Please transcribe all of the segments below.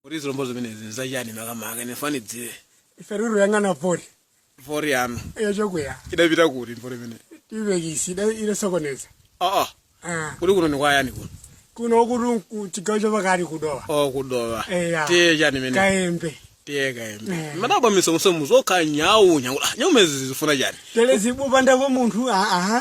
kuti zilombo zimenezi nza chani makamaka nifananidzire ife ruru yang'ana pori vori yanu yochokwera idapita kuti mvura imene ivekisi idasokoneza aa Ah, kuti kuno nikwayani kuno kuno kuli ku- chigawo chapakati ku Dowa o ku Dowa Eya. tiye chani imene kaembe tiye kaembe Eh. madabwa misomusomu zokha Nyau Nyau Ah, Nyau zimenezi zifuna chani tele zikupandapo munthu aa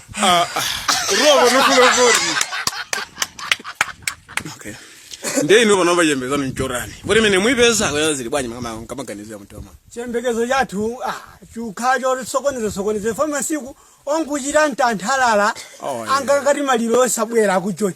robo nokulokori okay nde ino pano pachembeza nonchorani poti mene mwaipeza kuti zili bwanji makamaka maganizo a mtima mwa chiyembekezo chathu ah, chikukhala chosokonezasokoneza poti masiku ano kuchita mtanthalala Oh, yeah. angakati maliro osabwera ku Joni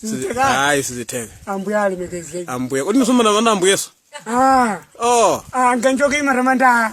Sizitheka. hayi sizitheka Ambuye alemekezeke. ambuye kodi ndisomana mana ambuyeso Ah, oh ah ngenjoke imaramanda.